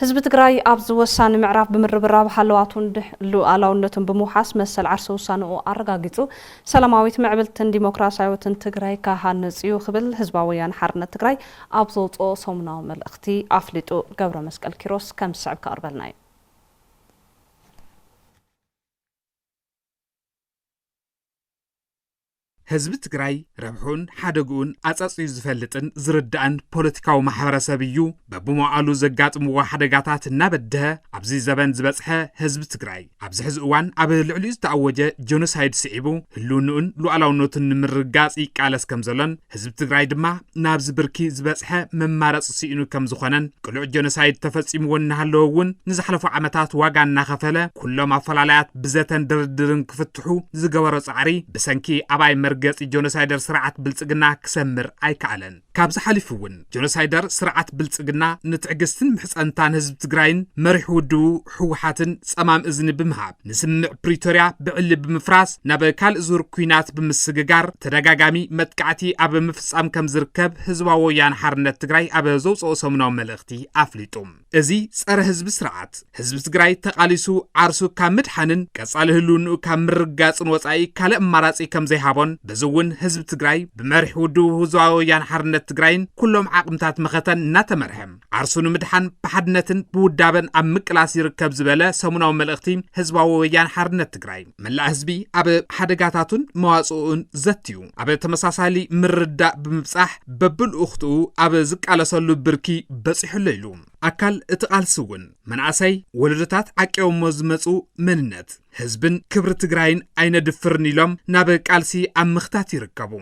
ህዝቢ ትግራይ ኣብዚ ወሳኒ ምዕራፍ ብምርብራብ ሃለዋቱን ሉኣላውነቱን ብምውሓስ መሰል ዓርሰ ውሳነኡ ኣረጋጊፁ ሰላማዊት፣ ምዕብልቲን ዲሞክራሲያዊትን ትግራይ ክሃንፅ እዩ ክብል ህዝባዊ ወያነ ሓርነት ትግራይ ኣብ ዘውፅኦ ሰሙናዊ መልእኽቲ ኣፍሊጡ። ገብረመስቀል ኪሮስ ከም ዝስዕብ ከቕርበልና እዩ። ህዝቢ ትግራይ ረብሕኡን ሓደግኡን ኣጸጽዩ ዝፈልጥን ዝርዳእን ፖለቲካዊ ማሕበረሰብ እዩ። በብመዋእሉ ዘጋጥምዎ ሓደጋታት እናበደሀ ኣብዚ ዘበን ዝበጽሐ ህዝቢ ትግራይ፣ ኣብዚ ሕዚ እዋን ኣብ ልዕሊኡ ዝተኣወጀ ጀኖሳይድ ስዒቡ ህልውንኡን ሉኣላውነቱን ንምርግጋጽ ይቃለስ ከምዘሎን፣ ህዝቢ ትግራይ ድማ ናብዚ ብርኪ ዝበፅሐ መማረፂ ስኢኑ ከም ዝኾነን ቅሉዕ ጀኖሳይድ ተፈፂምዎ እናሃለወ እውን ንዝሓለፉ ዓመታት ዋጋ እናኸፈለ ኩሎም ኣፈላላያት ብዘተን ድርድርን ክፍትሑ ዝገበሮ ፃዕሪ ብሰንኪ ኣባይ መርገፂ ጀኖሳይደር ስርዓት ብልፅግና ክሰምር ኣይከኣለን ካብዚ ሓሊፉ እውን ጀኖሳይደር ስርዓት ብልፅግና ንትዕግስትን ምሕፀንታን ህዝቢ ትግራይን መሪሕ ውድቡ ህወሓትን ፀማም እዝኒ ብምሃብ ንስምምዕ ፕሪቶርያ ብዕሊ ብምፍራስ ናብ ካልእ ዙር ኩናት ብምስግጋር ተደጋጋሚ መጥቃዕቲ ኣብ ምፍፃም ከም ዝርከብ ህዝባዊ ወያነ ሓርነት ትግራይ ኣብ ዘውፅኦ ሰሙናዊ መልእኽቲ ኣፍሊጡ። እዚ ጸረ ህዝቢ ስርዓት ህዝቢ ትግራይ ተቓሊሱ ዓርሱ ካብ ምድሓንን ቀጻሊ ህልውንኡ ካብ ምርጋጽን ወጻኢ ካልእ ኣማራጺ ከም ዘይሃቦን በዚ እውን ህዝቢ ትግራይ ብመሪሕ ውድቡ ህዝባዊ ወያን ሓርነት ትግራይን ኩሎም ዓቕምታት መኸተን እናተመርሐ ዓርሱ ንምድሓን ብሓድነትን ብውዳበን ኣብ ምቅላስ ይርከብ ዝበለ ሰሙናዊ መልእኽቲ ህዝባዊ ወያን ሓርነት ትግራይ መላእ ህዝቢ ኣብ ሓደጋታቱን መዋፅኡን ዘትዩ ኣብ ተመሳሳሊ ምርዳእ ብምብፃሕ በብልኡኽትኡ ኣብ ዝቃለሰሉ ብርኪ በፂሑሎ ኢሉ ኣካል እቲ ቃልሲ እውን መናእሰይ ወለዶታት ዓቂቦሞ ዝመፁ መንነት ህዝብን ክብሪ ትግራይን ኣይነድፍርን ኢሎም ናብ ቃልሲ ኣብ ምኽታት ይርከቡ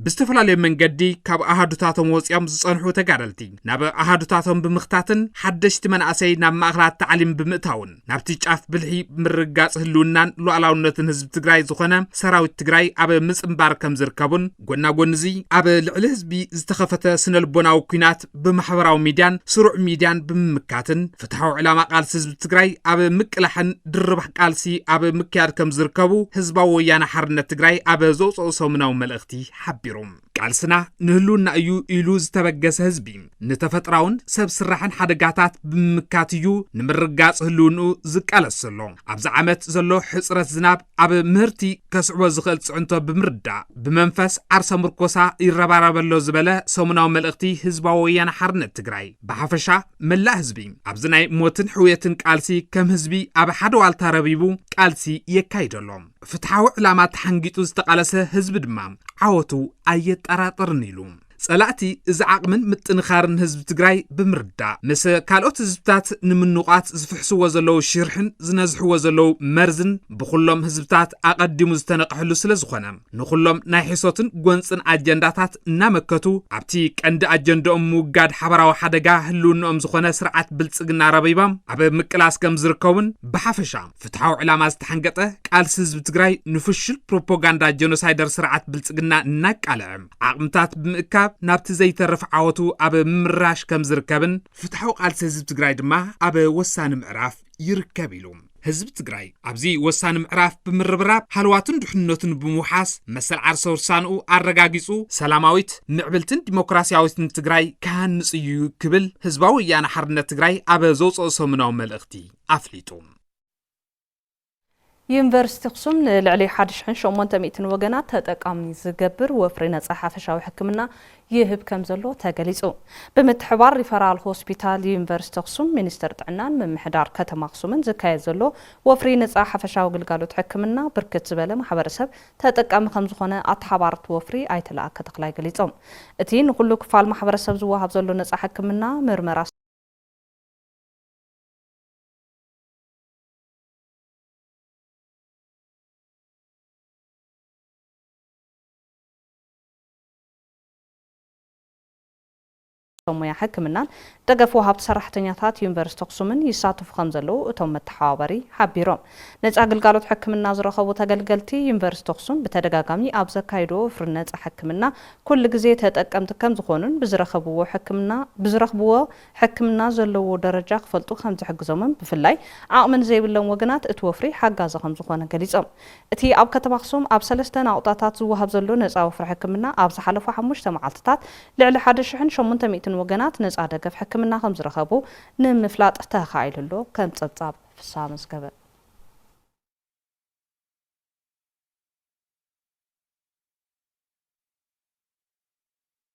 ብዝተፈላለየ መንገዲ ካብ ኣሃዱታቶም ወፂኦም ዝፀንሑ ተጋደልቲ ናብ ኣሃዱታቶም ብምኽታትን ሓደሽቲ መናእሰይ ናብ ማእኸላት ታዕሊም ብምእታውን ናብቲ ጫፍ ብልሒ ምርግጋፅ ህልውናን ሉዓላውነትን ህዝቢ ትግራይ ዝኾነ ሰራዊት ትግራይ ኣብ ምፅምባር ከም ዝርከቡን ጎና ጎኒ እዚ ኣብ ልዕሊ ህዝቢ ዝተኸፈተ ስነልቦናዊ ኩናት ብማሕበራዊ ሚድያን ስሩዕ ሚድያን ብምምካትን ፍትሐዊ ዕላማ ቃልሲ ህዝቢ ትግራይ ኣብ ምቅላሕን ድርባሕ ቃልሲ ኣብ ምክያድ ከም ዝርከቡ ህዝባዊ ወያነ ሓርነት ትግራይ ኣብ ዘውፅኦ ሰሙናዊ መልእኽቲ ሓቢሩ። ቃልስና ንህልውና እዩ ኢሉ ዝተበገሰ ህዝቢ ንተፈጥራውን ሰብ ስራሕን ሓደጋታት ብምምካት እዩ ንምርጋፅ ህልውንኡ ዝቃለስ ዘሎ። ኣብዚ ዓመት ዘሎ ሕፅረት ዝናብ ኣብ ምህርቲ ከስዕቦ ዝኽእል ፅዕንቶ ብምርዳእ ብመንፈስ ዓርሰ ምርኮሳ ይረባረበሎ ዝበለ ሰሙናዊ መልእኽቲ ህዝባዊ ወያነ ሓርነት ትግራይ ብሓፈሻ መላእ ህዝቢ ኣብዚ ናይ ሞትን ሕውየትን ቃልሲ ከም ህዝቢ ኣብ ሓደ ዋልታ ረቢቡ ቃልሲ የካይደሎ ፍትሓዊ ዕላማ ተሓንጊጡ ዝተቓለሰ ህዝቢ ድማ ዓወቱ ኣየጠራጥርን ኢሉ ጸላእቲ እዚ ዓቕምን ምጥንኻርን ህዝቢ ትግራይ ብምርዳእ ምስ ካልኦት ህዝብታት ንምንቋት ዝፍሕስዎ ዘለዉ ሽርሕን ዝነዝሕዎ ዘለዉ መርዝን ብኹሎም ህዝብታት ኣቐዲሙ ዝተነቕሐሉ ስለ ዝኾነ ንኹሎም ናይ ሕሶትን ጎንፅን ኣጀንዳታት እናመከቱ ኣብቲ ቀንዲ ኣጀንዳኦም ምውጋድ ሓበራዊ ሓደጋ ህልውንኦም ዝኾነ ስርዓት ብልፅግና ረቢባም ኣብ ምቅላስ ከም ዝርከቡን ብሓፈሻ ፍትሓዊ ዕላማ ዝተሓንገጠ ቃልሲ ህዝቢ ትግራይ ንፍሹል ፕሮፓጋንዳ ጀኖሳይደር ስርዓት ብልፅግና እናቃልዐ ዓቕምታት ብምእካብ ናብቲ ዘይተርፍ ዓወቱ ኣብ ምምራሽ ከም ዝርከብን ፍትሓዊ ቃልሲ ህዝቢ ትግራይ ድማ ኣብ ወሳኒ ምዕራፍ ይርከብ ኢሉ። ህዝቢ ትግራይ ኣብዚ ወሳኒ ምዕራፍ ብምርብራብ ሃለዋቱን ድሕንነቱን ብምውሓስ መሰል ዓርሰ ውሳንኡ ኣረጋጊፁ ሰላማዊት ምዕብልትን ዲሞክራሲያዊትን ትግራይ ክሃንፅ እዩ ክብል ህዝባዊ ወያነ ሓርነት ትግራይ ኣብ ዘውፅኦ ሰሙናዊ መልእኽቲ ኣፍሊጡ። ዩኒቨርሲቲ ኣኽሱም ንልዕሊ ሓደ ሽሕን ሸሞንተ ሚእትን ወገናት ተጠቃሚ ዝገብር ወፍሪ ነፃ ሓፈሻዊ ሕክምና ይህብ ከምዘሎ ተገሊፁ። ብምትሕብባር ሪፈራል ሆስፒታል ዩኒቨርሲቲ ኣኽሱም፣ ሚኒስቴር ጥዕናን ምምሕዳር ከተማ ኣኽሱምን ዝካየድ ዘሎ ወፍሪ ነፃ ሓፈሻዊ ግልጋሎት ሕክምና ብርክት ዝበለ ማሕበረሰብ ተጠቃሚ ከምዝኾነ ኣተሓባርቲ ወፍሪ ኣይተ ለኣከ ተኽላይ ገሊፆም። እቲ ንኹሉ ክፋል ማሕበረሰብ ዝወሃብ ዘሎ ነፃ ሕክምና፣ ምርመራ፣ ሰብ ሞያ ሕክምናን ደገፍ ወሃብቲ ሰራሕተኛታት ዩኒቨርስቲ ኣኽሱምን ይሳተፉ ከምዘለዉ እቶም መተሓባበሪ ሓቢሮም። ነፃ ግልጋሎት ሕክምና ዝረኸቡ ተገልገልቲ ዩኒቨርስቲ ኣኽሱም ብተደጋጋሚ ኣብ ዘካይድዎ ወፍሪ ነፃ ሕክምና ኩሉ ግዜ ተጠቀምቲ ከምዝኾኑን ብዝረኸብዎ ሕክምና ብዝረኽብዎ ሕክምና ዘለዎ ደረጃ ክፈልጡ ከምዝሕግዞምን ብፍላይ ዓቕሚ ንዘይብሎም ወገናት እቲ ወፍሪ ሓጋዚ ከምዝኾነ ገሊፆም። እቲ ኣብ ከተማ ኣኽሱም ኣብ ሰለስተ ናቑጣታት ዝወሃብ ዘሎ ነፃ ወፍሪ ሕክምና ኣብ ዝሓለፉ ሓሙሽተ መዓልቲታት ልዕሊ ሓደ ሽሕን ሸሞንተ ሚእትን ወገናት ነፃ ደገፍ ሕክምና ከምዝረኸቡ ንምፍላጥ ተኻኢሉ ኣሎ። ከም ፀብፃብ ፍስሃ መዝገበ።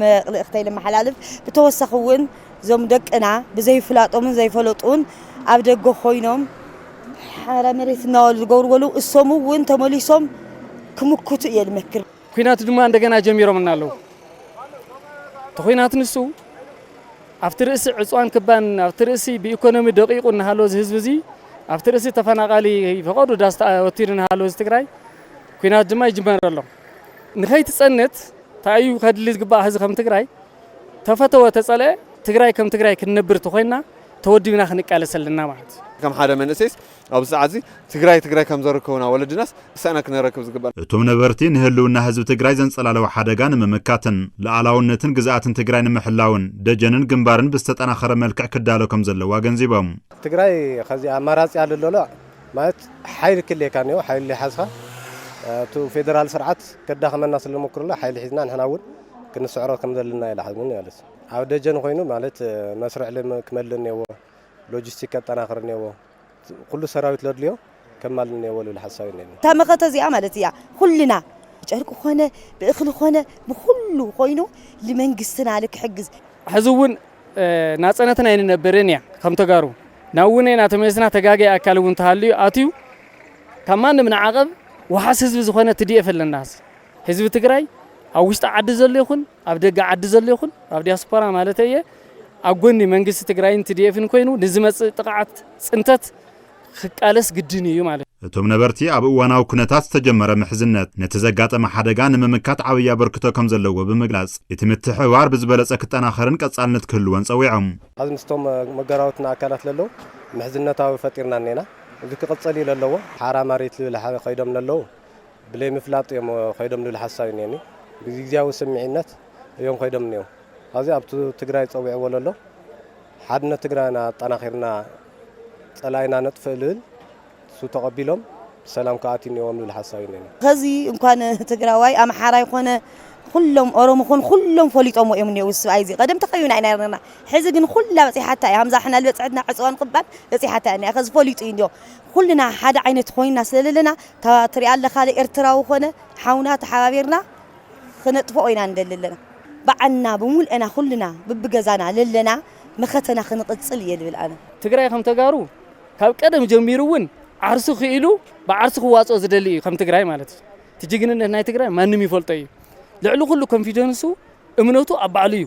መልእኽተይ ለመሓላልፍ ብተወሳኺ እውን እዞም ደቅና ብዘይፍላጦምን ዘይፈለጡን ኣብ ደገ ኮይኖም ሓራ መሬት እናበሉ ዝገብርዎ ኣለዉ እሶም እውን ተመሊሶም ክምክቱ እየ ልመክር ኩናት ድማ እንደገና ጀሚሮምና ኣለዉ እቲ ኩናት ንሱ ኣብቲ ርእሲ ዕፅዋን ክባን ኣብቲ ርእሲ ብኢኮኖሚ ደቂቁ እናሃለወ እዚ ህዝቢ እዚ ኣብቲ ርእሲ ተፈናቃሊ ፈቀዱ ዳስ ወቲሩ እናሃለወ እዚ ትግራይ ኩናት ድማ ይጅመር ኣሎ ንኸይትፀንት ታይ እዩ ከድሊ ዝግባእ ህዚ ከም ትግራይ ተፈተወ ተፀልኧ ትግራይ ከም ትግራይ ክንነብር ተኾይንና ተወዲብና ክንቃለስ ኣለና ማለት እዩ። ከም ሓደ መንእሰይስ ኣብዚ ሰዓት እዚ ትግራይ ትግራይ ከም ዘርከቡና ወለድናስ እሰእና ክነረክብ ዝግበእና። እቶም ነበርቲ ንህልውና ህዝቢ ትግራይ ዘንፀላለወ ሓደጋ ንምምካትን ልኣላውነትን ግዝኣትን ትግራይ ንምሕላውን ደጀንን ግንባርን ብዝተጠናኸረ መልክዕ ክዳሎ ከምዘለዎ ኣገንዚቦም። ትግራይ ኸዚ ኣማራፂ ኣልሎለዕ ማለት ሓይሊ ክልየካ እኒኦ ሓይሊ ለይሓዝካ ኣብቲ ፌደራል ስርዓት ከዳኸመና ስለሞክርሎ ሓይሊ ሒዝና ንሕና እውን ክንስዕሮ ከምዘለና ይልሓዝኒ ማለት እዩ ኣብ ደጀን ኮይኑ ማለት መስርዕ ልም ክመልእ እኒዎ ሎጂስቲክ ከጠናኽር እኒዎ ኩሉ ሰራዊት ለድልዮ ከማልእ እኒዎ ልብል ሓሳብ እዩ እኒኒ። እታ መኸተ እዚኣ ማለት እያ ኩልና ብጨርቂ ኮነ ብእኽሊ ኮነ ብኹሉ ኮይኑ ልመንግስትና ልክሕግዝ። ሕዚ እውን ናጸነትን ኣይንነብርን እያ ከም ተጋሩ ናብ ውነ ናተመለስና ተጋገ ኣካል እውን ተሃልዩ ኣትዩ ካብ ማንም ንዓቐብ ውሓስ ህዝቢ ዝኾነ ትዲኤፍ ኣለና ህዝቢ ትግራይ ኣብ ውሽጢ ዓዲ ዘሎ ይኹን ኣብ ደገ ዓዲ ዘሎ ይኹን ኣብ ዲያስፖራ ማለት እየ ኣብ ጎኒ መንግስቲ ትግራይን ትዲኤፍን ኮይኑ ንዝመፅእ ጥቕዓት ፅንተት ክቃለስ ግድን ኢዩ ማለት ኢዩ። እቶም ነበርቲ ኣብ እዋናዊ ኩነታት ዝተጀመረ ምሕዝነት ነቲ ዘጋጠመ ሓደጋ ንምምካት ዓብዪ ኣበርክቶ ከምዘለዎ ብምግላፅ እቲ ምትሕብባር ብዝበለፀ ክጠናኸርን ቀፃልነት ክህልዎን ፀዊዖም። ሐዚ ምስቶም መገራውትና ኣካላት ለለው ምሕዝነታዊ ፈጢርና እኔና እዚ ክቅፅል እዩ ለለዎ። ሓራ ማሪት ልብል ሓ ከይዶም ለለው ብለይምፍላጥ እዮም ከይዶም ልብል ሓሳብ እዩ እኔኒ ብግዚግዚያዊ ስምዒነት እዮም ከይዶም እኔው ሐዚ ኣብቱ ትግራይ ፀዊዕዎ ለሎ። ሓድነት ትግራይና ኣጠናኺርና ፀላኢና ነጥፍእ ልብል ንሱ ተቐቢሎም ብሰላም ክኣትዩ እኒኦዎም ልብል ሓሳብ እዩ እኒኤና። ኸዚ እንኳን ትግራዋይ ኣምሓራይ ኾነ ኹሎም ኦሮሞ ኾኑ ኹሎም ፈሊጦምዎ እዮም እኒኦው እዚ ስብኣይ እዚ ቐደም ተኸዩና ኢና ነርና ሕዚ ግን ኹላ በፂሓታ እያ ሃምዛ ሕና ልበፅሐትና ዕፅዋን ኽባን በፂሓታ እያ እኒኣ ኸዚ ፈሊጡ እዩ እኒኦ ኹልና ሓደ ዓይነት ኾይንና ስለለለና እታ ትሪኣ ኣለኻ ኤርትራዊ ኾነ ሓውና ተሓባቢርና ኽነጥፍኦ ኢና ንደሊ ኣለና ባዓልና ብሙልእና ኹልና ብብገዛና ለለና መኸተና ኽንቕፅል እየ ልብል ኣነ። ትግራይ ከም ተጋሩ ካብ ቀደም ጀሚሩ እውን ዓርሱ ክኢሉ ብዓርሱ ክዋፅኦ ዝደሊ እዩ ከም ትግራይ ማለት እዩ እቲ ጅግንነት ናይ ትግራይ ማንም ይፈልጦ እዩ ልዕሊ ኩሉ ኮንፊደንሱ እምነቱ ኣብ ባዕሉ እዩ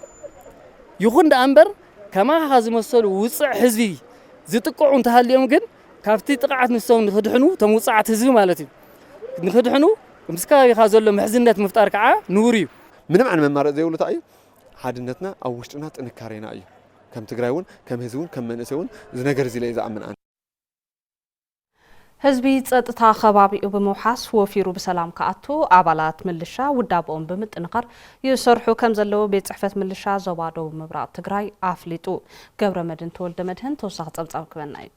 ይኹን ደኣ እምበር ከማኻ ዝመሰሉ ውፅዕ ህዝቢ ዝጥቀዑ እንተሃልዮም ግን ካብቲ ጥቕዓት ንሶም ንክድሕኑ፣ እቶም ውጹዓት ህዝቢ ማለት እዩ፣ ንክድሕኑ ምስ ከባቢኻ ዘሎ ምሕዝነት ምፍጣር ከዓ ንቡር እዩ። ምንም ዓይነት መማረፂ ዘይብሉ ታይ እዩ ሓድነትና ኣብ ውሽጥና ጥንካሬና እዩ ከም ትግራይ እውን ከም ህዝቢ እውን ከም መንእሰይ እውን እዚ ነገር እዚ ኢለ እየ ዝኣምን ኣነ። ህዝቢ ፀጥታ ኸባቢኡ ብምውሓስ ወፊሩ ብሰላም ክኣቱ ኣባላት ምልሻ ውዳበኦም ብምጥንኻር ይሰርሑ ከምዘለዉ ቤት ፅሕፈት ምልሻ ዞባ ደቡብ ምብራቕ ትግራይ ኣፍሊጡ። ገብረመድህን ተወልደመድህን ተወሳኺ ጸብጻብ ክበና እዩ።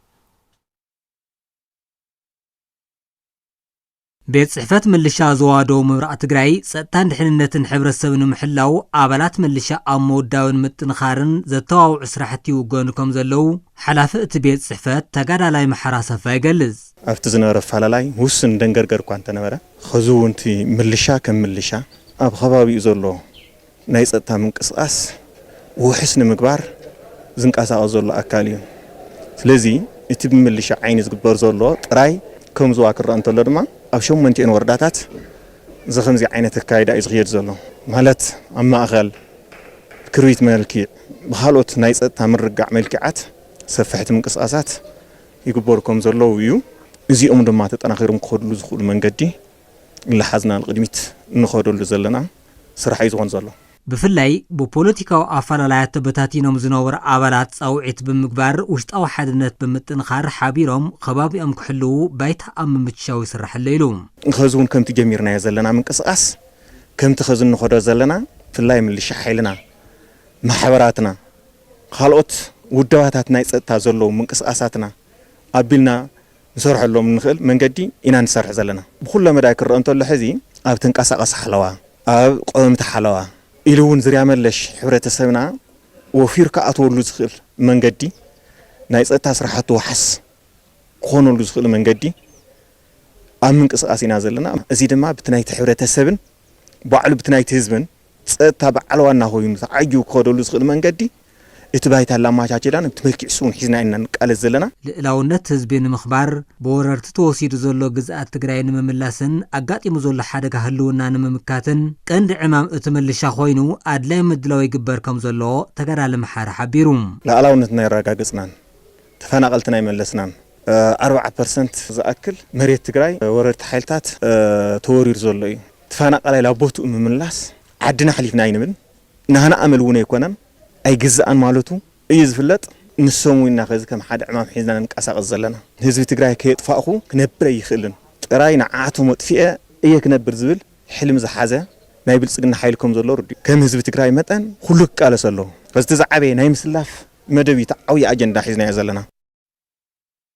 ቤት ፅሕፈት ምልሻ ዞባ ደቡብ ምብራቕ ትግራይ ፀጥታን ድሕንነትን ሕብረተሰብ ንምሕላው ኣባላት ምልሻ ኣብ ምውዳብን ምጥንኻርን ዘተባብዑ ስራሕቲ ይውገኑ ከምዘለው ሓላፊ እቲ ቤት ፅሕፈት ተጋዳላይ መሓሪ ኣሰፋ ይገልፅ። ኣብቲ ዝነበረ ኣፈላላይ ውሱን ደንገርገር እኳ እንተነበረ፣ ኸዚ እውን እቲ ምልሻ ከም ምልሻ ኣብ ኸባቢኡ ዘሎ ናይ ፀጥታ ምንቅስቓስ ውሑስ ንምግባር ዝንቀሳቐስ ዘሎ ኣካል እዩ። ስለዚ እቲ ብምልሻ ዓይኒ ዝግበር ዘሎ ጥራይ ከም ዞባ ክረኣ እንተሎ ድማ ኣብ ሸሞንቲኤን ወረዳታት ዝኸምዚ ዓይነት ኣካይዳ እዩ ዝኽየድ ዘሎ። ማለት ኣብ ማእኸል፣ ክርቢት መልኪዕ፣ ብኻልኦት ናይ ፀጥታ ምርግጋዕ መልኪዓት ሰፈሕቲ ምንቅስቓሳት ይግበሩ ከም ዘለዉ እዩ። እዚኦም ድማ ተጠናኺሮም ክኸድሉ ዝኽእሉ መንገዲ እናሓዝና ንቕድሚት እንኸደሉ ዘለና። ስራሕ እዩ ዝኾን ዘሎ። ብፍላይ ብፖለቲካዊ ኣፈላላያት ተበታቲኖም ዝነበሩ ኣባላት ፃውዒት ብምግባር ውሽጣዊ ሓድነት ብምጥንኻር ሓቢሮም ኸባቢኦም ክሕልዉ ባይታ ኣብ ምምችቻው ይስራሕ ኣሎ ኢሉ። ኸዚ እውን ከምቲ ጀሚርናዮ ዘለና ምንቅስቓስ ከምቲ ኸዚ እንኸዶ ዘለና ብፍላይ ምልሻ ሓይልና፣ ማሕበራትና፣ ኻልኦት ውደባታት ናይ ፀጥታ ዘለዉ ምንቅስቓሳትና ኣቢልና፣ ንሰርሐሎም እንኽእል መንገዲ ኢና ንሰርሕ ዘለና። ብኹለ መዳይ ክረኣ እንተሎ ሕዚ ኣብ ተንቀሳቐሲ ሓለዋ፣ ኣብ ቆወምቲ ሓለዋ ኢሉ እውን ዝርያ መለሽ ሕብረተሰብና ወፊሩ ክኣትወሉ ዝኽእል መንገዲ ናይ ፀጥታ ስራሕቱ ዋሕስ ክኾነሉ ዝኽእል መንገዲ ኣብ ምንቅስቓስ ኢና ዘለና። እዚ ድማ ብቲ ናይቲ ሕብረተሰብን ባዕሉ ብቲ ናይቲ ህዝብን ጸጥታ በዓል ዋና ኮይኑ ተዓጂቡ ክኸደሉ ዝኽእል መንገዲ እቲ ባይታ ኣላማቻቺላን እቲ መልኪዕ ስውን ሒዝና ኢና ንቃለስ ዘለና። ልእላውነት ህዝቢ ንምኽባር፣ ብወረርቲ ተወሲዱ ዘሎ ግዝኣት ትግራይ ንምምላስን ኣጋጢሙ ዘሎ ሓደጋ ህልውና ንምምካትን ቀንዲ ዕማም እቲ ምልሻ ኮይኑ ኣድላይ ምድላው ይግበር ከምዘሎ ተጋዳሊ መሓሪ ሓቢሩ። ልኣላውነትና ኣየረጋገፅናን ተፈናቐልትና ኣይመለስናን፣ ኣርብዓ ፐርሰንት ዝኣክል መሬት ትግራይ ብወረርቲ ሓይልታት ተወሪሩ ዘሎ እዩ። ተፋናቃላይ ላብ ቦቱኡ ምምላስ ዓድና ኣሕሊፍና ኣይንብን ናህና ኣመል እውን ኣይኮነን ኣይግዛኣን ማለቱ እዩ ዝፍለጥ ንሶም እውን ኢና ከዚ ከም ሓደ ዕማም ሒዝና ንንቃሳቀስ ዘለና ህዝቢ ትግራይ ከየጥፋእኹ ክነብር ኣይኽእልን ጥራይ ንዓዓቶም ኣጥፊኤ እየ ክነብር ዝብል ሕልሚ ዝሓዘ ናይ ብልፅግና ሓይሊ ከም ዘሎ ርዱእ ከም ህዝቢ ትግራይ መጠን ኹሉ ክቃለስ ኣለዎ ከዚ እቲ ዝዓበየ ናይ ምስላፍ መደብ እዩ እቲ ዓብይ ኣጀንዳ ሒዝናዮ ዘለና።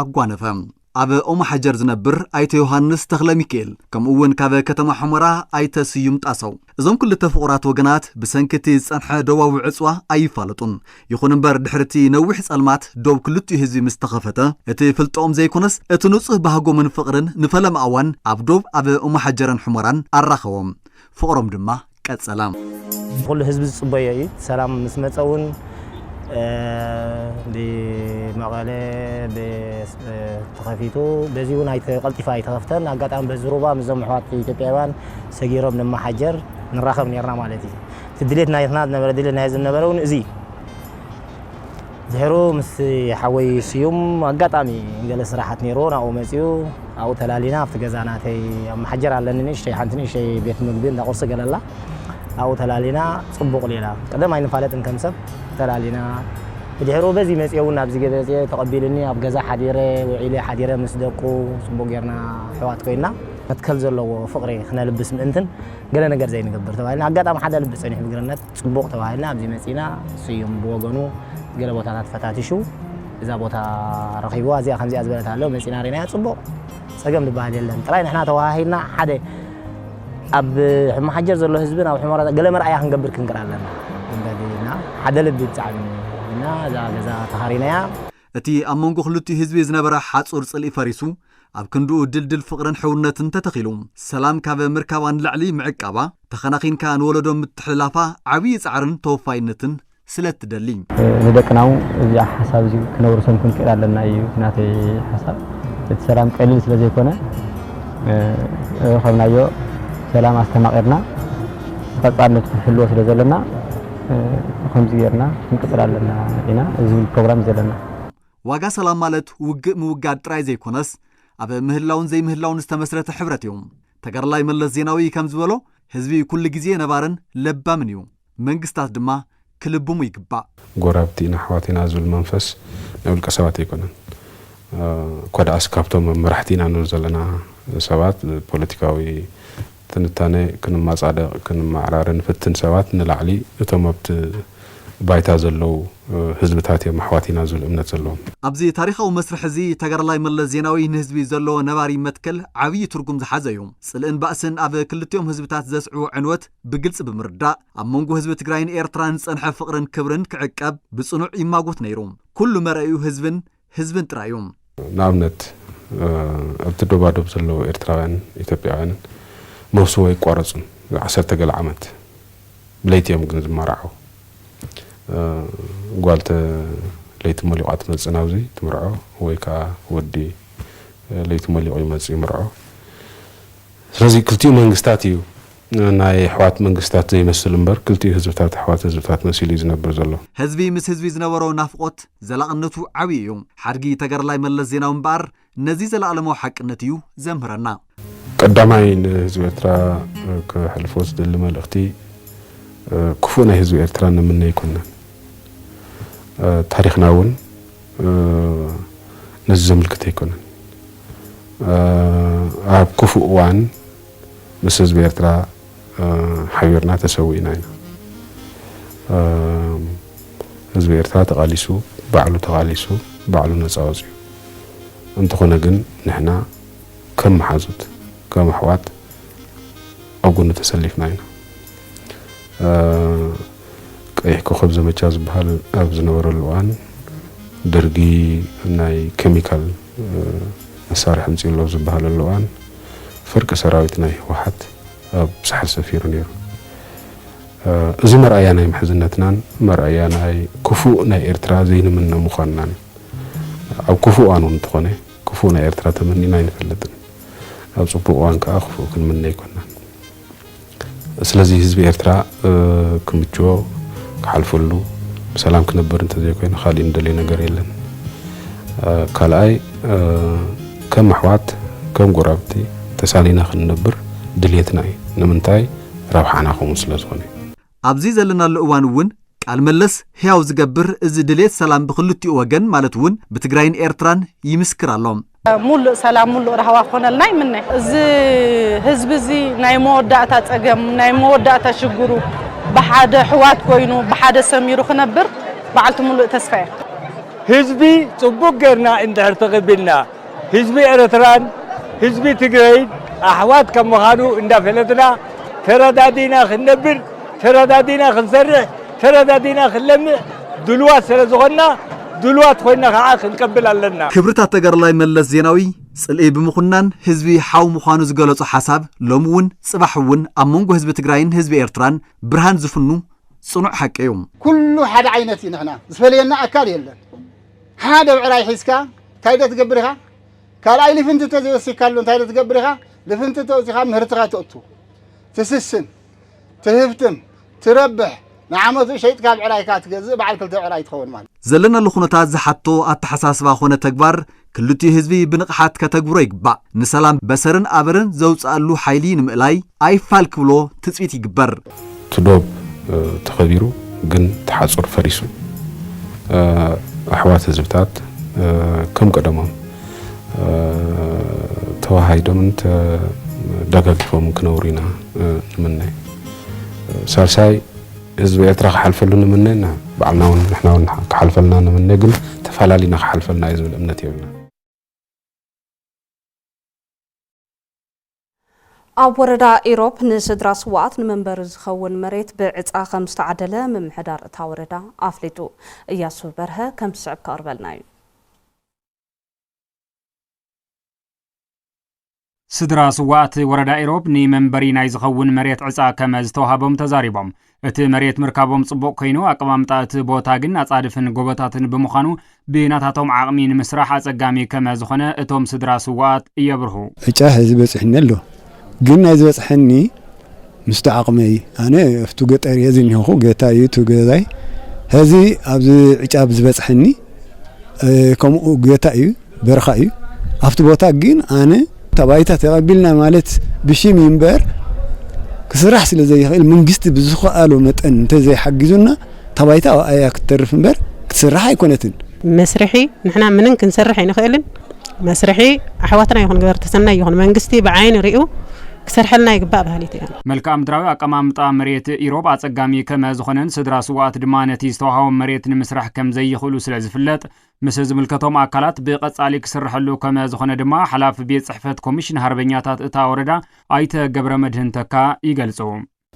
ኣጓነፈ። ኣብ ኦምሓጀር ዝነብር ኣይተ ዮሃንስ ተኽለሚኪኤል ከምኡ እውን ካብ ከተማ ሑመራ ኣይተ ስዩም ጣሰው እዞም ክልተ ፍቑራት ወገናት ብሰንኪ እቲ ዝፀንሐ ዶባዊ ዕፅዋ ኣይፋለጡን። ይኹን እምበር ድሕሪ እቲ ነዊሕ ፀልማት ዶብ ክልቲኡ ህዝቢ ምስ ተኸፈተ እቲ ፍልጠኦም ዘይኮነስ እቲ ንፁህ ባህጎምን ፍቕርን ንፈለማ እዋን ኣብ ዶብ ኣብ ኦምሓጀረን ሑመራን ኣራኸቦም። ፍቕሮም ድማ ቀጸላ። ኩሉ ህዝቢ ዝጽበዮ እዩ ሰላም ምስ መጸ ውን ብመቐለ ተኸፊቱ በዚ ውን ቀልጢፋ ኣይተኸፍተን ኣጋጣሚ በዚ ሩባ ምስዞም ኣሕዋት ኢትዮጵያውያን ሰጊሮም ንመሓጀር ንራኸብ ኔርና ማለት እዩ እቲ ድሌት ናትና ዝነበረ ድሌት ናይ ህዝቢ ዝነበረ ውን እዚ እዩ። ድሕሩ ምስ ሓወይ ስዩም ኣጋጣሚ ገለ ስራሓት ነይርዎ ናብኡ መጺኡ ኣብኡ ተላሊና ኣብቲ ገዛ ናተይ ኣብ መሓጀር ኣለኒ ንእሽተይ ሓንቲ ንእሽተይ ቤት ምግቢ እንዳ ቁርሲ ገለ ኣላ ኣብኡ ተላሊና ጽቡቕ ሌላ ቀደም ኣይንፋለጥን ከም ሰብ ተላሊና ብድሕሩ በዚ መጺኤ እውን ናብዚ ገበጺኤ ተቐቢሉኒ ኣብ ገዛ ሓዲረ ውዒለ ሓዲረ ምስ ደቁ ጽቡቕ ጌርና ኣሕዋት ኮይና መትከል ዘለዎ ፍቕሪ ክነልብስ ምእንትን ገለ ነገር ዘይንገብር ተባሂልና ኣጋጣሚ ሓደ ልቢ ጸኒሑ ብግርነት ጽቡቕ ተባሂልና ኣብዚ መጺእና፣ ስዩም ብወገኑ ገለ ቦታታት ፈታቲሹ እዛ ቦታ ረኺብዋ እዚኣ ከምዚኣ ዝበለት ኣሎ መጺእና ርኢናያ ጽቡቕ ጸገም ዝበሃል የለን ጥራይ ንሕና ተወሃሂድና ሓደ ኣብ ሕመሓጀር ዘሎ ህዝብን ኣብ ሕመራ ገለ መርኣያ ክንገብር ክንግር ኣለና ዝበልና ሓደ ልቢ ብጣዕሚ ኢልና እዛ ገዛ ተኻሪናያ እቲ ኣብ መንጎ ክልቲኡ ህዝቢ ዝነበረ ሓጹር ጽልኢ ፈሪሱ፣ ኣብ ክንድኡ ድልድል ፍቕርን ሕውነትን ተተኺሉ። ሰላም ካብ ምርካባ ንላዕሊ ምዕቃባ፣ ተኸናኺንካ ንወለዶ ምትሕልላፋ ዓብዪ ጻዕርን ተወፋይነትን ስለእትደሊ። ንደቅና'ው እዚኣ ሓሳብ እዚ ክነውርሶም ክንክእል ኣለና ኢዩ እቲ ናተይ ሓሳብ። እቲ ሰላም ቀሊል ስለዘይኮነ ዝረኸብናዮ ሰላም ኣስተማቒርና ብቐጻልነቱ ክንሕልዎ ስለዘለና ብኸምዚ ጌርና ክንቅጽል ኣለና ኢና እዚ ፕሮግራም ዘለና። ዋጋ ሰላም ማለት ውግእ ምውጋድ ጥራይ ዘይኮነስ ኣብ ምህላውን ዘይምህላውን ዝተመስረተ ሕብረት እዩ። ተጋዳላይ መለስ ዜናዊ ከም ዝበሎ ህዝቢ ኩሉ ግዜ ነባርን ለባምን እዩ። መንግስታት ድማ ክልብሙ ይግባእ። ጎራብቲ ኢና ኣሕዋት ኢና ዝብል መንፈስ ናይ ውልቀ ሰባት ኣይኮነን። እኳ ደኣስ ካብቶም ኣብ መራሕቲ ኢና ንብል ዘለና ሰባት ፖለቲካዊ ትንታነ ክንማጻደቕ ክንማዕራረ ንፍትን ሰባት ንላዕሊ እቶም ኣብቲ ባይታ ዘለዉ ህዝብታት እዮም ኣሕዋት ኢና ዝብል እምነት ዘለዎም። ኣብዚ ታሪኻዊ መስርሕ እዚ ተጋዳላይ መለስ ዜናዊ ንህዝቢ ዘለዎ ነባሪ መትከል ዓብዪ ትርጉም ዝሓዘ እዩ። ጽልእን ባእስን ኣብ ክልቲኦም ህዝብታት ዘስዕቦ ዕንወት ብግልጺ ብምርዳእ ኣብ መንጎ ህዝቢ ትግራይን ኤርትራን ዝጸንሐ ፍቕርን ክብርን ክዕቀብ ብጽኑዕ ይማጎት ነይሩ። ኩሉ መርኣዩ ህዝብን። ህዝብን ጥራይ እዩ። ንኣብነት ኣብቲ ዶባዶብ ዘለዉ ኤርትራውያንን ኢትዮጵያውያንን መብስዎ ኣይቋረጹን። ዓሰርተ ገለ ዓመት ብለይቲ እዮም ግን ዝማራዓዉ። ጓል ተ ለይቲ ሞሊቋ ትመጽእ ናብዚ ትምርዖ ወይ ከኣ ወዲ ለይቲ ሞሊቑ ይመጽእ ይምርዖ። ስለዚ ክልቲኡ መንግስታት እዩ ናይ ኣሕዋት መንግስታት ዘይመስል እምበር ክልቲኡ ህዝብታት ኣሕዋት ህዝብታት መሲሉ እዩ ዝነብር ዘሎ። ህዝቢ ምስ ህዝቢ ዝነበሮ ናፍቖት ዘላቕነቱ ዓብዩ እዩ። ሓድጊ ተጋዳላይ መለስ ዜናዊ እምበኣር ነዚ ዘለኣለማዊ ሓቅነት እዩ ዘምህረና። ቀዳማይ ንህዝቢ ኤርትራ ከሕልፎ ዝደሊ መልእኽቲ ክፉእ ናይ ህዝቢ ኤርትራ ንምነ ኣይኮናን። ታሪኽና እውን ነዚ ዘምልክት ኣይኮነን። ኣብ ክፉእ እዋን ምስ ህዝቢ ኤርትራ ሓቢርና ተሰዊእና ኢና። ህዝቢ ኤርትራ ተቓሊሱ ባዕሉ ተቓሊሱ ባዕሉ ነጻ ወጺኡ። እንተኾነ ግን ንሕና ከም መሓዙት ከም ኣሕዋት ኣብ ጎኑ ተሰሊፍና ኢና። ቀይሕ ኮኾብ ዘመቻ ዝብሃል ኣብ ዝነበረሉ እዋን ደርጊ ናይ ከሚካል መሳርሒ ኣምጺኡ ኣሎ ኣብ ዝበሃለሉ እዋን ፍርቂ ሰራዊት ናይ ህወሓት ኣብ ሳሕል ሰፊሩ ነይሩ። እዚ መርኣያ ናይ ምሕዝነትናን መርኣያ ናይ ክፉእ ናይ ኤርትራ ዘይንምነ ምዃንናን ኣብ ክፉእ እዋን እውን እንተኾነ ክፉእ ናይ ኤርትራ ተመኒና ኣይንፈልጥን። ኣብ ጽቡቕ እዋን ከኣ ክፉእ ክንምነ ኣይኮናን። ስለዚ ህዝቢ ኤርትራ ክምችዎ ክሓልፈሉ ብሰላም ክነብር እንተዘይኮይኑ ካሊእ ንደልዮ ነገር የለን። ካልኣይ ከም ኣሕዋት ከም ጎራብቲ ተሳኒና ክንነብር ድልየትና እዩ። ንምንታይ ረብሓና ከምኡ ስለዝኾነ እዩ። ኣብዚ ዘለናሉ እዋን እውን ቃል መለስ ህያው ዝገብር እዚ ድልየት ሰላም ብክልቲኡ ወገን ማለት እውን ብትግራይን ኤርትራን ይምስክር ኣሎ። ሙሉእ ሰላም ሙሉእ ራህዋ ክኾነልና ይምነ። እዚ ህዝቢ እዚ ናይ መወዳእታ ፀገም ናይ መወዳእታ ሽግሩ ብሓደ ኣሕዋት ኮይኑ ብሓደ ሰሚሩ ክነብር በዓልቲ ሙሉእ ተስፋ እየ። ህዝቢ ፅቡቅ ገይርና እንድሕር ተቅቢልና ህዝቢ ኤረትራን ህዝቢ ትግረይን ኣሕዋት ከም ምኻኑ እንዳፈለጥና ተረዳዲና ክንነብር ተረዳዲና ክንሰርሕ ተረዳዲና ክንለምዕ ድሉዋት ሰለ ዝኾንና ድሉዋት ኮይና ካኣ ክንቀብል ኣለና። ክብርታት ተጋዳላይ መለስ ዜናዊ ጽልኢ ብምኹናን ህዝቢ ሓው ምዃኑ ዝገለጾ ሓሳብ ሎሚ እውን ጽባሕ እውን ኣብ መንጎ ህዝቢ ትግራይን ህዝቢ ኤርትራን ብርሃን ዝፍኑ ጽኑዕ ሓቂ እዩ። ኩሉ ሓደ ዓይነት እዩ ንሕና ዝፈለየና ኣካል የለን ሓደ ብዕራይ ሒዝካ እንታይ ዶ ትገብር ኢኻ? ካልኣይ ልፍንቲ ተዘይወሲካሉ እንታይ ዶ ትገብር ኢኻ? ልፍንቲ ተወሲኻ ምህርትኻ ተእቱ፣ ትስስን፣ ትህብትም፣ ትረብሕ፣ ንዓመቱ ሸይጥካ ብዕራይካ ትገዝእ በዓል ክልተ ብዕራይ ትኸውን ማለት። ዘለናሉ ኩነታት ዝሓቶ ኣተሓሳስባ ኮነ ተግባር ክልቲኡ ህዝቢ ብንቕሓት ከተግብሮ ይግባእ። ንሰላም በሰርን ኣበርን ዘውጽኣሉ ሓይሊ ንምእላይ ኣይፋል ክብሎ ትጽቢት ይግበር። እቲ ዶብ ተኸቢሩ ግን እቲ ሓፁር ፈሪሱ ኣሕዋት ህዝብታት ከም ቀደሞም ተወሃሂዶምን ተደጋጊፎምን ክነብሩ ኢና ንምነ። ሳልሳይ ህዝቢ ኤርትራ ክሓልፈሉ ንምነ እና ባዕልና እውን ንሕና እውን ክሓልፈልና ንምነ፣ ግን ተፈላሊና ክሓልፈልና እዩ ዝብል እምነት የብልና። ኣብ ወረዳ ኢሮብ ንስድራ ስዉኣት ንመንበሪ ዝኸውን መሬት ብዕፃ ከም ዝተዓደለ ምምሕዳር እታ ወረዳ ኣፍሊጡ። እያሱ በርሀ ከም ዝስዕብ ከቕርበልና እዩ። ስድራ ስዉኣት ወረዳ ኢሮብ ንመንበሪ ናይ ዝኸውን መሬት ዕፃ ከመ ዝተውሃቦም ተዛሪቦም። እቲ መሬት ምርካቦም ጽቡቕ ኮይኑ፣ ኣቀማምጣ እቲ ቦታ ግን ኣጻድፍን ጎቦታትን ብምዃኑ፣ ብናታቶም ዓቕሚ ንምስራሕ ኣጸጋሚ ከመ ዝኾነ እቶም ስድራ ስዉኣት የብርሁ። ዕጫ ሐዚ በጺሑኒ ኣሎ፣ ግን ናይ ዝበጽሐኒ ምስቲ ዓቕመይ፣ ኣነ ኣብቲ ገጠር እየ ዝኒሀኹ፣ ገታ እዩ እቲ ገዛይ፣ ሐዚ ኣብዚ ዕጫ ብዝበጽሐኒ ከምኡ ገታ እዩ፣ በረኻ እዩ ኣብቲ ቦታ ግን ኣነ ታባይታ ተቐቢልና ማለት ብሽም እዩ እምበር ክስራሕ ስለ ዘይኽእል መንግስቲ ብዝኸኣሎ መጠን እንተዘይሓጊዙና ታባይታ ኣብኣያ ክትተርፍ እምበር ክትስራሕ ኣይኮነትን። መስርሒ ንሕና ምንም ክንሰርሕ ኣይንኽእልን መስርሒ ኣሕዋትና ይኹን ገበርቲ ሰናይ ይኹን መንግስቲ ብዓይኒ ሪኡ ክሰርሐልና ይግባእ በሃሊት እያ። መልክኣ ምድራዊ ኣቀማምጣ መሬት ኢሮብ ኣጸጋሚ ከመ ዝኾነን ስድራ ስውኣት ድማ ነቲ ዝተዋሃቦም መሬት ንምስራሕ ከም ዘይኽእሉ ስለ ዝፍለጥ ምስ ዝምልከቶም ኣካላት ብቐፃሊ ክስረሐሉ ከመ ዝኾነ ድማ ሓላፊ ቤት ፅሕፈት ኮሚሽን ሃርበኛታት እታ ወረዳ ኣይተ ገብረመድህን ተካ ይገልፁ።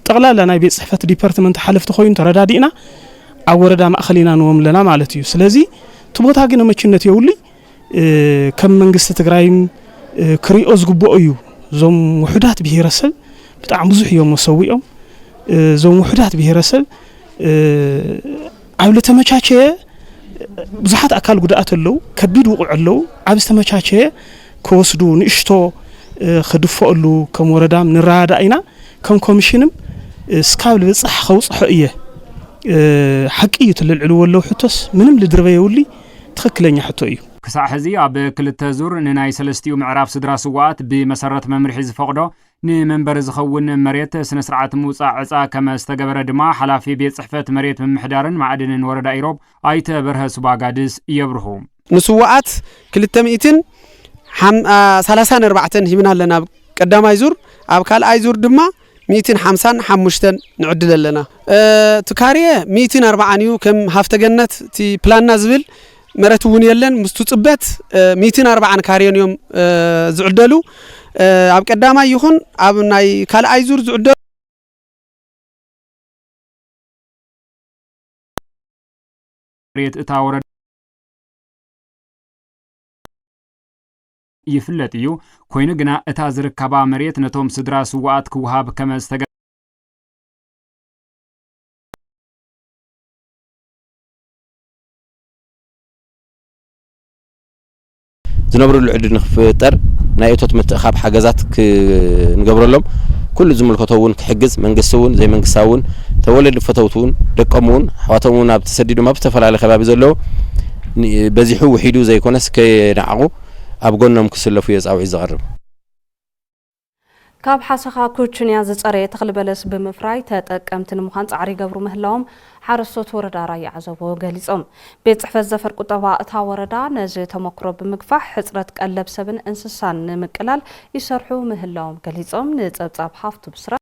ጠቕላላ ናይ ቤት ፅሕፈት ዲፐርትመንት ሓለፍቲ ኮይኑ ተረዳዲእና ኣብ ወረዳ ማእኸል ኢና ንዎም ለና ማለት እዩ። ስለዚ እቲ ቦታ ግን መቹነት የውሉይ ከም መንግስቲ ትግራይም ክሪኦ ዝግብኦ እዩ። እዞም ውሑዳት ብሄረሰብ ብጣዕሚ ብዙሕ እዮም መሰዊኦም እዞም ውሑዳት ብሄረሰብ ኣብ ልተመቻቸየ ብዙሓት ኣካል ጉድኣት ኣለው፣ ከቢድ ውቑዕ ኣለው፣ ኣብ ዝተመቻቸየ ክወስዱ ንእሽቶ ክድፈኦሉ ከም ወረዳም ንረዳዳእ ኢና፣ ከም ኮሚሽንም እስካብ ልብፃሕ ከውፅሖ እየ። ሓቂ እዩ እቲ ልልዕልዎ ኣለው ሕቶስ ምንም ልድርበ የውሊ ትኽክለኛ ሕቶ እዩ። ክሳዕ ሕዚ ኣብ ክልተ ዙር ንናይ ሰለስቲኡ ምዕራፍ ስድራ ስውኣት ብመሰረት መምርሒ ዝፈቕዶ ንመንበሪ ዝኸውን መሬት ስነ ስርዓት ምውፃእ ዕፃ ከመ ዝተገበረ ድማ ሓላፊ ቤት ፅሕፈት መሬት ምምሕዳርን ማእድንን ወረዳ ኢሮብ ኣይተ በርሀ ሱባጋድስ የብርሁ። ንስዉኣት ክልተ ሚእትን ሳላሳን ኣርባዕተን ሂብና ኣለና ኣብ ቀዳማይ ዙር ኣብ ካልኣይ ዙር ድማ ሚእትን ሓምሳን ሓሙሽተን ንዕድል ኣለና እቲ ካርየ ሚእትን ኣርባዓን እዩ ከም ሃፍተገነት እቲ ፕላንና ዝብል መረት እውን የለን ምስቱ ፅበት ሚትን ኣርባዓን ካሬን እዮም ዝዕደሉ ኣብ ቀዳማይ ይኹን ኣብ ናይ ካልኣይ ዙር ዝዕደሉ መሬት እታ ወረዳ ይፍለጥ እዩ ኮይኑ ግና እታ ዝርከባ መሬት ነቶም ስድራ ስዋኣት ክውሃብ ከመ ዝተገ ዝነብርሉ ዕድል ንክፍጠር ናይ እቶት ምትእኻብ ሓገዛት ክንገብረሎም ኩሉ ዝምልከቶ እውን ክሕግዝ መንግስቲ እውን ዘይመንግስታዊ እውን ተወለዲ ፈተውቲ እውን ደቆም እውን ኣሕዋቶም እውን ኣብ ተሰዲዶም ኣብ ዝተፈላለዩ ከባቢ ዘለዎ በዚሑ ውሒዱ ዘይኮነስ ከየናዕቑ ኣብ ጎኖም ክስለፉ እየ ፃውዒት ዘቕርብ ካብ ሓሰኻ ኩችንያ ዝፀረየ ተኽሊ በለስ ብምፍራይ ተጠቀምቲ ንምዃን ፃዕሪ ይገብሩ ምህላዎም ሓረስቶት ወረዳ ራያ ዓዘቦ ገሊፆም። ቤት ፅሕፈት ዘፈር ቁጠባ እታ ወረዳ ነዚ ተሞክሮ ብምግፋሕ ሕፅረት ቀለብ ሰብን እንስሳን ንምቅላል ይሰርሑ ምህላዎም ገሊፆም። ንፀብፃብ ሃፍቱ ብስራት።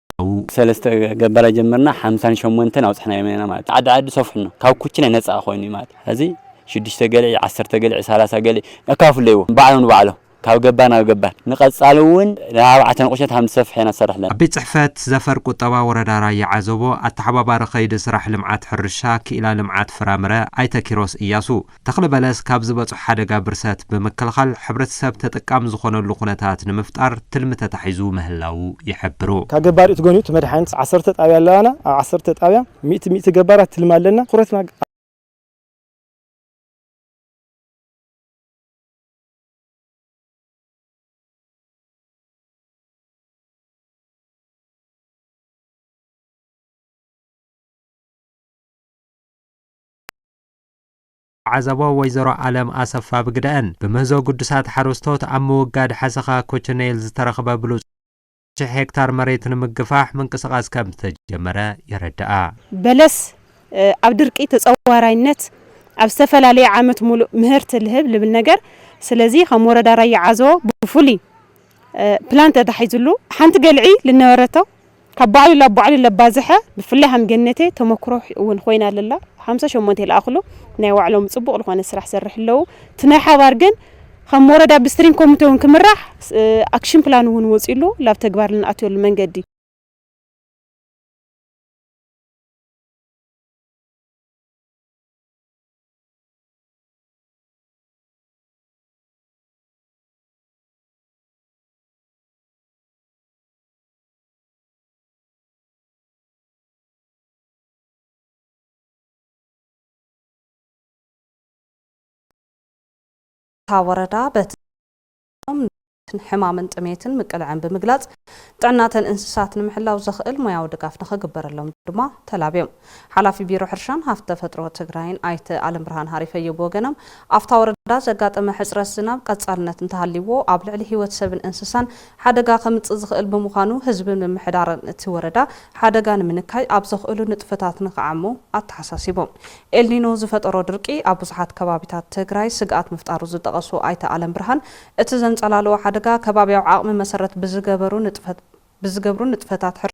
ካብኡ ሰለስተ ገባላይ ጀምርና ሓምሳን ሸሞንተን ኣብጽሕናዮም ኢና ማለት እዩ። ዓዲ ዓዲ ሰፍሑና ካብ ኩችናይ ነጻ ኮይኑ እዩ ማለት እዩ። ሕዚ ሽዱሽተ ገልዒ ዓሰርተ ገልዒ ሰላሳ ገልዒ ነካፍለይዎ ባዕሎም ንባዕሎም ካብ ገባር ናብ ገባር ንቀጻሊ እውን ንኣርባዕተ ንቁሸት ሃም ንሰፍሕ ኢና ንሰርሕ ኣለና። ኣብ ቤት ጽሕፈት ዘፈር ቁጠባ ወረዳ ራያ ዓዘቦ ኣተሓባባሪ ከይዲ ስራሕ ልምዓት ሕርሻ ክኢላ ልምዓት ፍራምረ ኣይተ ኪሮስ ኢያሱ፣ ተኽሊ በለስ ካብ ዝበፅሖ ሓደጋ ብርሰት ብምክልኻል ሕብረተሰብ ተጠቃሚ ዝኾነሉ ኩነታት ንምፍጣር ትልሚ ተታሒዙ ምህላዉ ይሕብሩ። ካብ ገባር እቲ ጎኒ እቲ መድሓኒት ዓሰርተ ጣብያ ኣለዋና ኣብ ዓሰርተ ጣብያ ሚእቲ ሚእቲ ገባራት ትልሚ ኣለና ትኹረትና ዓዘቦ ወይዘሮ ኣለም ኣሰፋ ብግደኣን፣ ብምህዞ ግዱሳት ሓረስቶት ኣብ ምውጋድ ሓሰኻ ኮቸነይል ዝተረኽበ ብሉፅ ሽሕ ሄክታር መሬት ንምግፋሕ ምንቅስቓስ ከምዝተጀመረ የረድኣ። በለስ ኣብ ድርቂ ተፀዋራይነት ኣብ ዝተፈላለየ ዓመት ሙሉእ ምህርቲ ልህብ ልብል ነገር ስለዚ ከም ወረዳ ራያ ዓዘቦ ብፍሉይ ፕላን ተታሒዙሉ ሓንቲ ገልዒ ልነበረቶ ካብ ባዕሉ ላብ ባዕሉ ለባዘሐ ብፍላይ ሃም ገነቴ ተመክሮ ውን ኮይና ለላ ሓምሳ ሸሞንቴ ለኣክሉ ናይ ዋዕሎም ጽቡቅ ልኮነ ስራሕ ሰርሕ ለዉ እቲ ናይ ሓባር ግን ኸም ወረዳ ብስትሪንግ ኮሚቴ ውን ክምራሕ ኣክሽን ፕላን ውን ወጺሉ ላብ ተግባር ልንኣትወሉ መንገዲ እታ ወረዳ በቲ ዝነበረ ኵነታት ንኽትዓርፍ ን ሕማምን ጥሜትን ምቅልዐን ብምግላፅ ጥዕና እተን እንስሳት ንምሕላው ዘኽእል ሞያዊ ድጋፍ ንኽግበረሎም ድማ ተላብዮም። ሓላፊ ቢሮ ሕርሻን ሃፍቲ ተፈጥሮ ትግራይን ኣይተ ኣለምብርሃን ሃሪፈዮ ብወገኖም ኣብታ ወረዳ ዘጋጠመ ሕፅረት ዝናብ ቀፃልነት እንተሃልይዎ ኣብ ልዕሊ ህይወት ሰብን እንስሳን ሓደጋ ከምፅእ ዝኽእል ብምዃኑ ህዝብን ምምሕዳርን እቲ ወረዳ ሓደጋ ንምንካይ ኣብ ዘኽእሉ ንጥፈታት ንክዓሙ ኣተሓሳሲቦም። ኤልኒኖ ዝፈጠሮ ድርቂ ኣብ ብዙሓት ከባቢታት ትግራይ ስግኣት ምፍጣሩ ዝጠቐሱ ኣይተ ኣለምብርሃን፣ እቲ ዘንፀላልዎ ሓደጋ ከባቢያዊ ዓቕሚ መሰረት ብዝገበሩ ብዝገብሩ ንጥፈታት ሕርሻ፣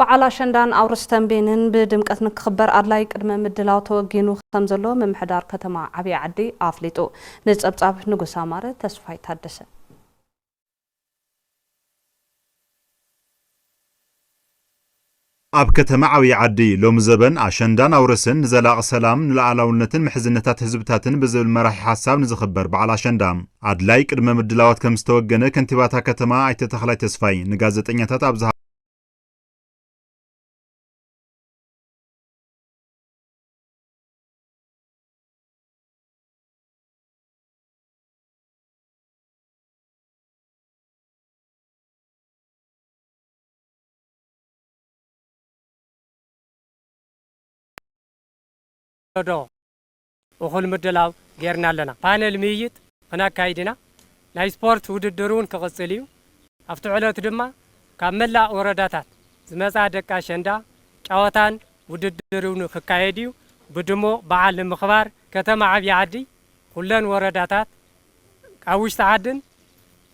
በዓል ኣሸንዳን ኣውርስ ተምቤንን ብድምቀት ንክኽበር ኣድላይ ቅድመ ምድላው ተወጊኑ ከምዘሎ ምምሕዳር ከተማ ዓብይ ዓዲ ኣፍሊጡ። ንፀብፃብ ንጉሰ ኣማረ ተስፋይ ታደሰ። ኣብ ከተማ ዓብይ ዓዲ ሎሚ ዘበን ኣሸንዳን ኣውርስን ንዘላቒ ሰላም፣ ንልኣላውነትን ምሕዝነታት ህዝብታትን ብዝብል መራሒ ሓሳብ ንዝኽበር በዓል ኣሸንዳ፣ ኣድላይ ቅድመ ምድላዋት ከም ዝተወገነ ከንቲባ እታ ከተማ ኣይተ ተኽላይ ተስፋይ ንጋዘጠኛታት ኣብ ዶ እኹል ምድላው ገይርና ኣለና። ፓነል ምይይጥ ክነካይድ ኢና። ናይ ስፖርት ውድድር እውን ክቕፅል እዩ። ኣብቲ ዕለት ድማ ካብ መላእ ወረዳታት ዝመፅኣ ደቂ ኣሸንዳ ጨወታን ውድድር እውን ክካየድ እዩ። ብድሙቕ በዓል ንምኽባር ከተማ ዓብዪ ዓዲ፣ ኩለን ወረዳታት፣ ኣብ ውሽጢ ዓድን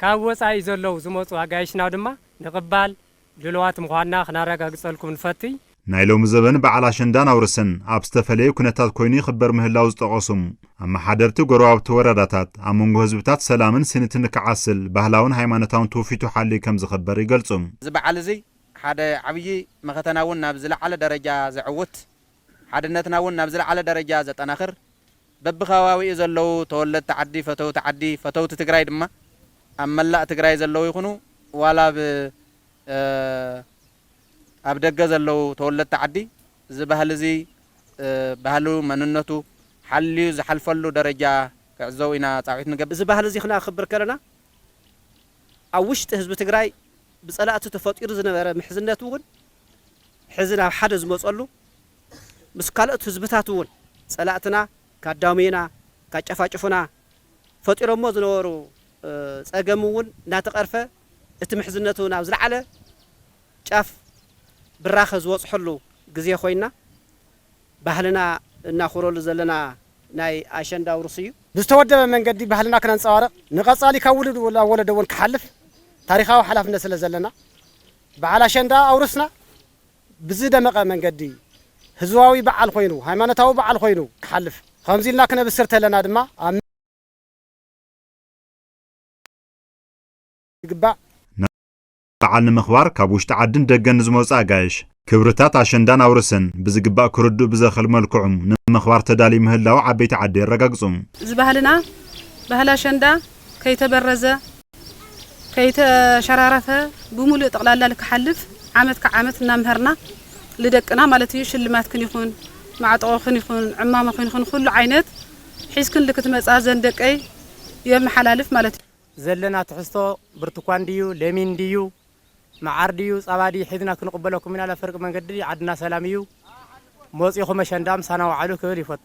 ካብ ወፃኢ ዘለዉ ዝመፁ ኣጋይሽና ድማ ንቕባል ድሉዋት ምዃንና ክናረጋግጸልኩም ንፈትይ። ናይ ሎሚ ዘበን በዓል ኣሸንዳን ኣውርሰን ኣብ ዝተፈለየ ኩነታት ኮይኑ ይኽበር ምህላው ዝጠቐሱ ኣመሓደርቲ ጎረባብቲ ወረዳታት፣ ኣብ መንጎ ህዝብታት ሰላምን ስኒትን ንክዓስል ባህላውን ሃይማኖታውን ትውፊቱ ሓልዩ ከምዝኽበር ይገልጹ። እዚ በዓል እዚ ሓደ ዓብዪ መኸተና እውን ናብ ዝለዓለ ደረጃ ዘዕውት፣ ሓድነትና እውን ናብ ዝለዓለ ደረጃ ዘጠናኽር፣ በብከባቢኡ ዘለዉ ተወለድቲ ዓዲ፣ ፈተውቲ ዓዲ፣ ፈተውቲ ትግራይ ድማ ኣብ መላእ ትግራይ ዘለዉ ይኹኑ ዋላ ኣብ ኣብ ደገ ዘለዉ ተወለድቲ ዓዲ እዚ ባህሊ እዚ ባህሉ መንነቱ ሓልዩ ዝሓልፈሉ ደረጃ ክዕዘቡ ኢና ፃውዒት ንገብር። እዚ ባህሊ እዚ ክነክብር ከለና ኣብ ውሽጢ ህዝቢ ትግራይ ብፀላእቱ ተፈጢሩ ዝነበረ ምሕዝነት እውን ሕዚ ናብ ሓደ ዝመፀሉ ምስ ካልኦት ህዝብታት እውን ፀላእትና ካዳሙዩና፣ ካጨፋጭፉና ፈጢሮሞ ዝነበሩ ፀገም እውን እናተቐርፈ እቲ ምሕዝነቱ ናብ ዝለዓለ ጫፍ ብራኸ ዝበፅሐሉ ግዜ ኮይንና ባህልና እናኹረሉ ዘለና ናይ ኣሸንዳ ውርስ እዩ። ብዝተወደበ መንገዲ ባህልና ክነንፀባርቕ ንቐፃሊ ካብ ውሉድ ናብ ወለዶ እውን ክሓልፍ ታሪኻዊ ሓላፍነት ስለዘለና በዓል ኣሸንዳ ኣውርስና። ብዝደመቐ መንገዲ ህዝባዊ በዓል ኮይኑ፣ ሃይማኖታዊ በዓል ኮይኑ ክሓልፍ ኸምዚ ኢልና ክነብስር ተለና ድማ ኣብ። ይግባእ። በዓል ንምኽባር ካብ ውሽጢ ዓድን ደገን ንዝመፁ ኣጋይሽ ክብርታት ኣሸንዳን ኣውርስን ብዝግባእ ክርድኡ ብዘኽእል መልክዑ ንምኽባር ተዳልዩ ምህላዉ ዓበይቲ ዓዲ የረጋግፁ። እዚ ባህልና ባህሊ ኣሸንዳ ከይተበረዘ። ከይተሸራረፈ ብሙሉእ ጠቕላላ ልክሓልፍ ዓመት ካብ ዓመት እናምሀርና ልደቅና ማለት እዩ ሽልማትክን ይኹን ማዕጠቖኽን ይኹን ዕማመኽን ይኹን ኹሉ ዓይነት ሒዝክን ልክትመፃ ዘን ደቀይ የመሓላልፍ ማለት እዩ። ዘለና ትሕዝቶ ብርቱኳን ድዩ ለሚን ድዩ መዓር ድዩ ፃባ ድዩ ሒዝና ክንቕበለኩም ኢና ለፍርቂ መንገዲ ዓድና ሰላም እዩ ሞፂኹም ኣሸንዳ ምሳና ውዓሉ ክብል ይፈቱ።